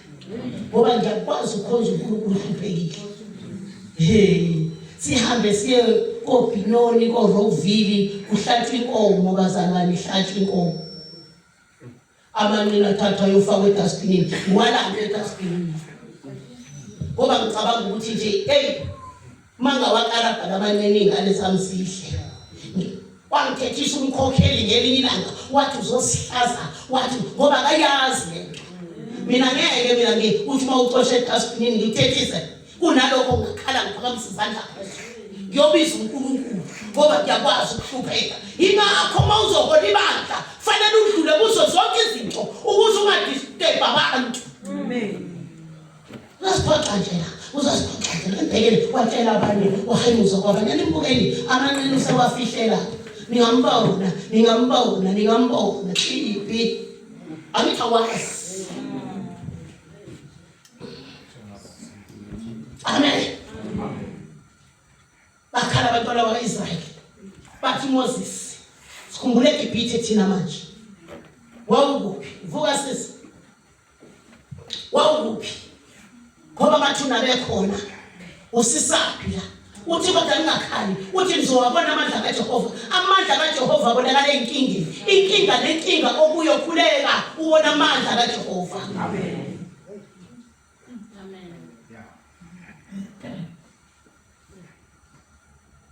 ngoba ngiyakwazi ukhonza uNkulunkulu uhluphekile hey sihambe siye kobhinoni korovili kuhlatshwa inkomo bazalwane ihlatshwa inkomo amanqina athathwa ayofakwa edustbinin walanda edustbinin ngoba ngicabanga ukuthi nje eyi Manga wakarabha labanceningi alesamsihle. Wangithethisa umkhokheli ngelinye ilanga wathi uzosihlaza wathi ngoba akayazi lento. Mina ngeke mina ngi uthi uma ucoshe edustbin ngithethise kunalokho ngakhala ngiphakamisa izandla phezulu. Ngiyobiza uNkulunkulu ngoba ngiyakwazi ukuhlupheka. Ingakho uma uzohola ibandla kufanele udlule kuzo zonke izinto ukuze ungadisturb abantu. Amen. Uzasiphoxa nje la, uzasiphoxa nje nibhekele watshela abanye wahayimuza kwabanye nimbukeli amanene usewafihlela ningambona ningambona ningambona ibi angithi awazi amen bakhala abantwana bakwa-israyeli bathi moses sikhumbule egibhithe thina manje wawukuphi vuka sisi wawuphi ngoba amathuna bekhona usisaphi la uthi kodwa ningakhali uthi nizowabona amandla kajehova amandla kajehova abonakala enkingeni inkinga nenkinga okuyokhuleka ubona amandla kajehova amen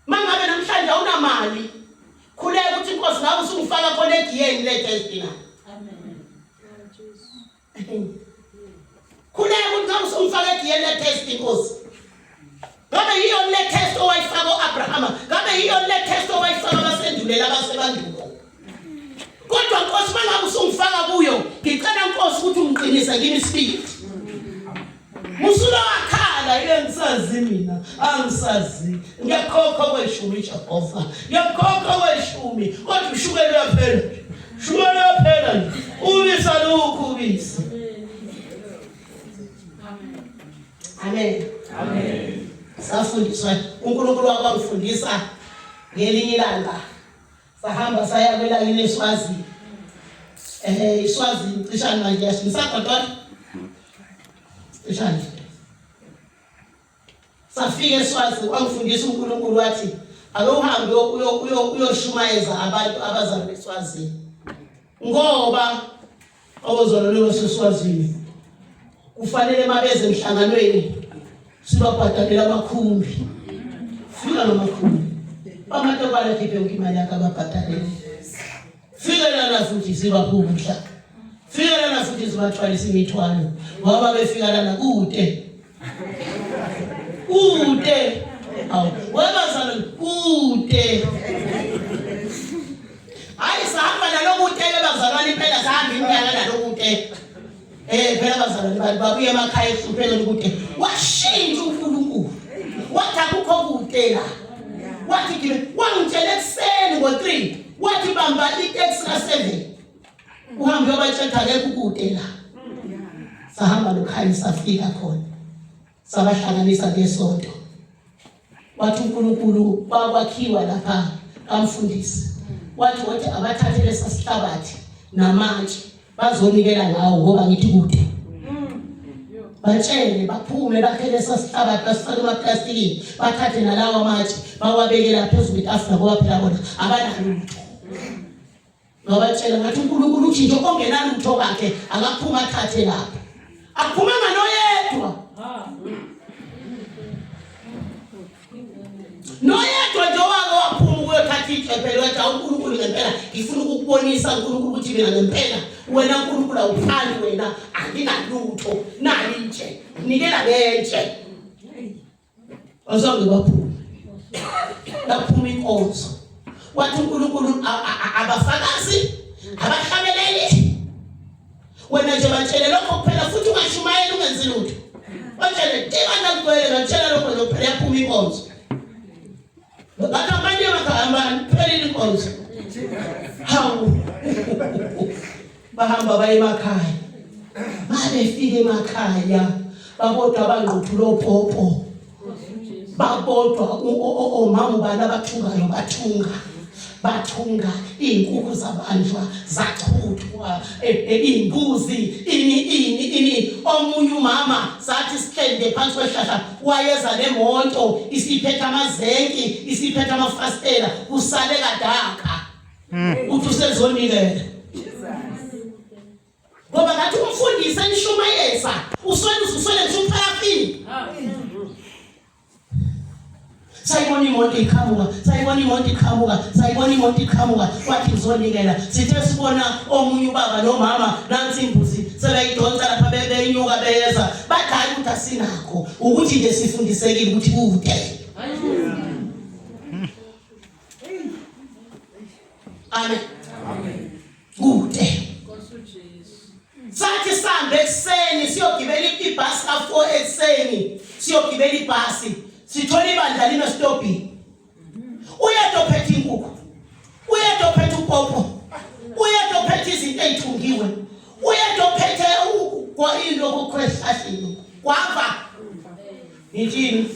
Mangabe namhlanje awunamali, khuleka ukuthi inkosi ngabe usungifaka khona egiyeni lethe ezidingayo. Amen. Khuleka ukuthi ngabe usungifaka egiyeni lethe ezidinkosi. Ngabe yiyo le test owayifaka uAbrahama, ngabe yiyo le test owayifaka abasendulela abasebandulo. kodwa nkosi mangabe usungifaka kuyo ngicela nkosi ukuthi ungiqinise kimi isibindi usulowakhala yile ngisazi mina angisazi ngiyakhokha kweshumi jehova ngiyakhokha kweshumi kodwa ushukela uyaphela shukela uyaphela nje ubisa lukhu ubisi amen amen safundiswa unkulunkulu wakwangifundisa ngelinye ilanga sahamba saya kwelakini eswazi um eh, iswazi cishani manje yashisagodola cishani safika eswazi wangifundisa unkulunkulu wathi ake uhambe uyoshumayeza abantu abazalwa eswazini ngoba Abazalwane baseSwazini kufanele mabeze emhlanganweni sibabhadalele amakhumbi. Fika ngamakhumbi. Bamathe kwale khiphe yonke imali yakhe ababhadalele. Fika lana futhi sibabhubha. Fika lana futhi sibathwalisa imithwalo ngoba befika lana kude. kude awu webazalo kude hayi sahamba nalokude bebazalwane impela sahamba iminyaka nalokude eh phela bazalwane bantu babuye emakhaya ehlupheka lokude washintsha uNkulunkulu wathi akukho kude la wathi kimi wangitshela ekuseni ngo-3 wathi bamba iteksi ka-7 uhambe yobatshela akekho ukude la sahamba lokhaya safika khona sabahlanganisa ngesonto wathi uNkulunkulu bakwakhiwa lapha kamfundisi wathi wathi abathathe lesasihlabathi namatshe bazonikela ngawo ngoba ngithi kude batshele baphume bakhe lesasihlabathi basifake emaplastikini bathathe nalawa amatshe bawabekela phezulu kwetafula ngoba phela bona abanalo lutho Ngabatshela ngathi uNkulunkulu uthi nje ongenalutho kakhe akaphuma athathe lapha. Aphuma nganoyedwa. Noyedwa nje wake waphuma ukuyothatha icephe lwathi awuNkulunkulu ngempela ngifuna ukukubonisa uNkulunkulu ukuthi mina ngempela wena uNkulunkulu awuphani wena anginalutho nali nje nikela kenje. Bazange baphume. Laphuma inkonzo. Wathi uNkulunkulu abafakazi abahlabeleli. Wena nje batshele lokho kuphela futhi ungashumayeli ungenzi lutho. Batshele tiva ndakugwele ngatshela lokho nje kuphela yaphuma inkonzo. Bathi abanye bakahambani kuphela inkonzo. Hawu. Bahamba baye emakhaya. Babefika emakhaya babodwa abangquthulo popo. Babodwa omama ubani abathungayo bathunga. bathunga iy'nkukhu zabanjwa zachudwa e, e, iy'mbuzi ini ini ini omunye umama sathi sihlende phansi kwehlahla wayeza nemonto isiphetha amazenki isiphetha amafastela kusale kadaka hmm. uthi usezonikela ngoba ngathi umfundisi enishumayeza uswele uswele ngisho uphayafini sayibona imoto iqhamuka sayibona imoto iqhamuka sayibona imoto iqhamuka kwathi ngizonikela sithe sibona omunye ubaba nomama nansi imbuzi sebeyidonsa lapha beyinyuka beyeza badala ukuthi asinakho ukuthi nje sifundisekile ukuthi kude amen kude sathi sambe ekuseni siyogibela ibhasi ka-four ekuseni siyogibela ibhasi sithola ibandla lime sitobhini uyedwa ophethe inkukhu uyedwa ophethe upopo uyedwa ophethe izinto ey'thungiwe uyedwa ophethe into okukhwehlahlini kwava ngithini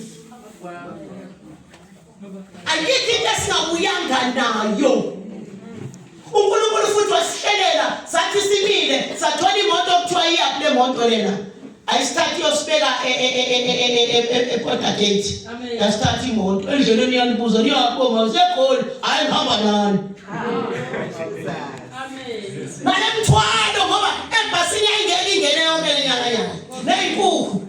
ayikho into esingabuyanga nayo unkulunkulu futhi wasihlelela sathi simile sathola imoto okuthiwa iyaphi le moto lena ayisithathi yosibeka eport gate yasithatha imoto endleleni yanibuza niyabonga usegoli hhayi ngihamba nani nale mthwalo ngoba ebhasini yayingeke ingene yonke lenyanga yayo ney'nkukhu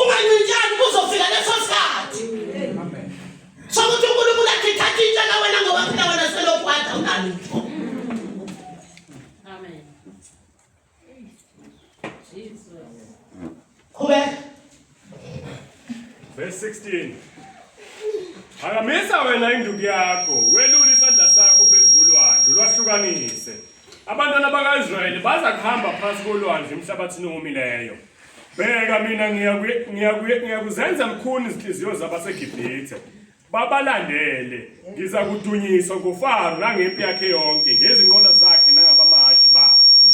Ungancintshani kuzofika leso sikhathi. Amen. Sokuthi uNkulunkulu akhithatha into la wena ngoba phela wena selokhu wada ungalutho. Amen. Jesus. Qhubeka. Verse 16. Phakamisa wena induku yakho, welule isandla sakho phezu kolwandle, lwahlukanise. Abantwana bakaIsrayeli baza kuhamba phansi kolwandle emhlabathini owomileyo. Bheka mina ngiyakuzenza mkhuni izinhliziyo zabaseGibhithe. Babalandele, ngiza kudunyiswa nguFaro nangempi yakhe yonke, ngezinqola zakhe nangabamahashi bakhe.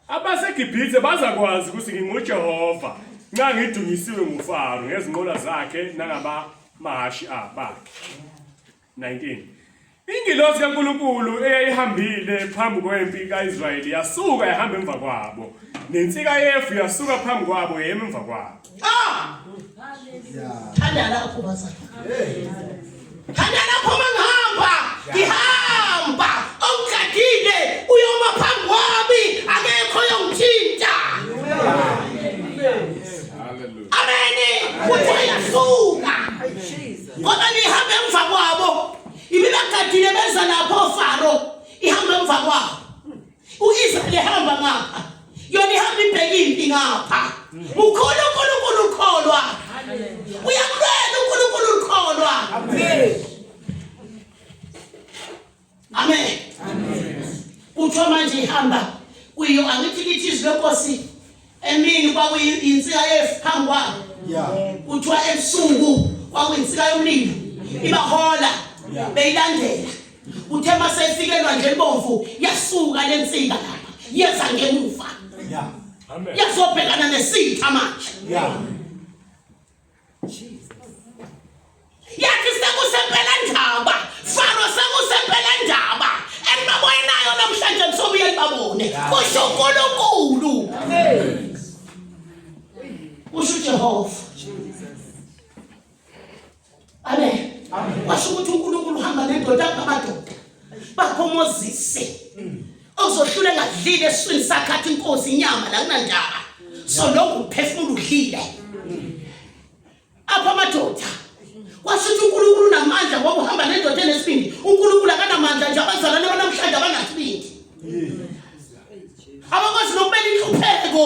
AbaseGibhithe bazakwazi ukuthi nginguJehova nxa ngidunyisiwe nguFaro ngezinqola zakhe nangabamahashi bakhe. 19 Ingilosi kaNkulunkulu eyayihambile phambi kwempi kaIsrayeli yasuka yahamba emva kwabo nensika yefu yasuka phambi kwabo yema emva kwabo Ah! Thanda lapho bazali. Thanda lapho mangihamba, ngihamba. Ongigadile uyoma phambi kwami, akekho oyongithinta. Amen. Kuthi uyasuka. ngoba lihambe emva kwabo ibibagadile beza lapho ofaro ihambe emva kwabo uIsrael ehamba ngapha yona ihamba ibheke impi ngapha ukhona uNkulunkulu ukholwa uyakulwela uNkulunkulu ukholwa amen amen kuthiwa manje ihamba kuyo angithi kithi izwi lenkosi emini kwakuyinsika yefu phambi kwabo kuthiwa ebusuku kwakuyinsika yomlilo ibahola beyilandela uthe uma seyifikelwa nje ibomvu yasuka le nsika lapha yeza ngemuva yazobhekana nesitha manje yathi sekusempela ndaba faro sekusempela ndaba enibaboye nayo namhlanje nisobuye libabone kusho unkulunkulu usho ujehova amen washo ukuthi unkulunkulu uhamba nendoda angamadoda bakhomozise ozohlula ngadlile eswini sakhathi inkosi inyama la kunandaba so lokhu uphefumulo udlile apha amadoda kwasho ukuthi uNkulunkulu unamandla ngoba uhamba nendoda enesibindi uNkulunkulu akanamandla nje abazalwane banamhlanje abanasibindi abakwazi nokubeka inhlupheko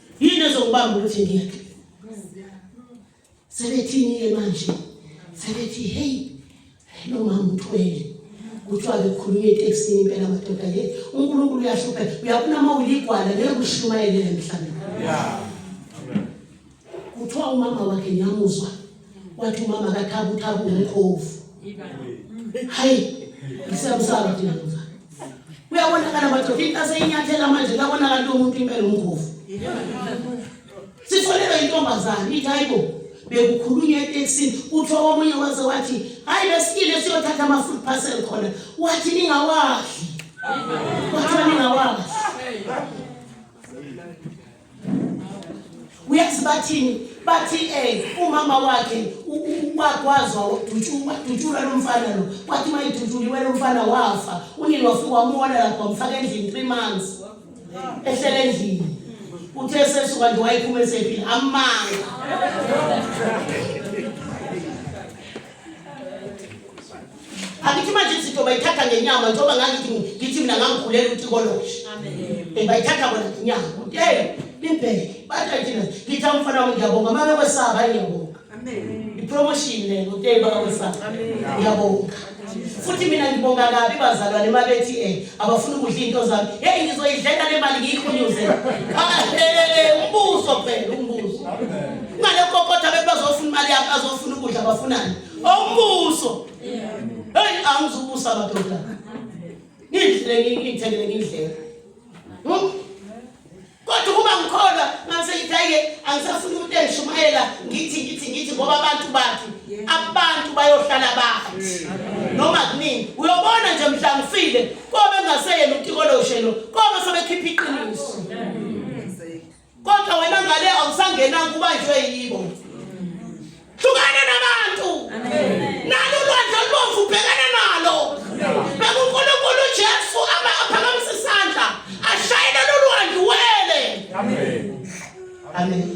Yini ezokubamba ukuthi ngiyeke? Sebethini ke manje? Sebethi hey lo mama uthwele. Kuthiwa ke khuluma eTexini impela madoda ke. UNkulunkulu uyahlupha. Uyabona uma uligwala ngeke ushumayele emhlabeni. Yeah. Kuthiwa umama wakhe ngiyamuzwa. wathi umama kathabu thabu umkhovu hayi ngisabusaba thina mfana uyabonakala madoda into aseyinyathela manje kabonakala lo muntu impela umkhovu sisolelwa intombazane ithi hayibo bekukhulunywa etekisini kuthiwa omunye waze wathi hayi besikile siyothatha ama-food parcel khona wathi ningawadli wathiwa ningawadli uyazi bathini bathi um umama wakhe wakwazwa wadutshulwa lo mfana lo kwathi uma idutshulilwe lo mfana wafa unini wafika wamona lapho wamfaka endlini three months ehlele endlini uthe sesuka nje wayiphuma esephile amanga Angithi manje izinto bayithatha ngenyama njengoba ngangithi ngithi mina ngangikhulela uTikoloshe. Amen. Bayithatha bona ngenyama. Hey, nimbheke. Bathi ayithina. Ngithi umfana wami ngiyabonga mama kwesaba ngiyabonga. Amen. Ipromotion le ngothe baba kwesaba. Amen. Ngiyabonga. Futhi mina ngibonga kabi bazalwane mabethi eh abafuna ukudla into zami. Hey ngizoyidlela le mali ngiyikhunyuze. Ah, hey, umbuso phela umbuso. Amen. Ngalokho kodwa abantu bazofuna imali yabo bazofuna ukudla bafunani? Umbuso. Hey angizubusa madoda. Ngidlile ngithengele ngidlele. Hmm? Kodwa uma ngikholwa ngase ngithayike angisafuni umuntu engishumayela ngithi ngithi ngithi ngoba abantu bathi abantu bayohlala bathi. Noma kunini uyobona nje mhla ngifile kobe ngaseyena uTikoloshelo kobe sebekhipha iqiniso. kodwa wena ngale awusangenanga ubanjwe yibo hlukana nabantu nalo lwandle olubomvu ubhekana nalo bekunkulunkulu ujesu aphakamise isandla ashayele lolwandle uwele amen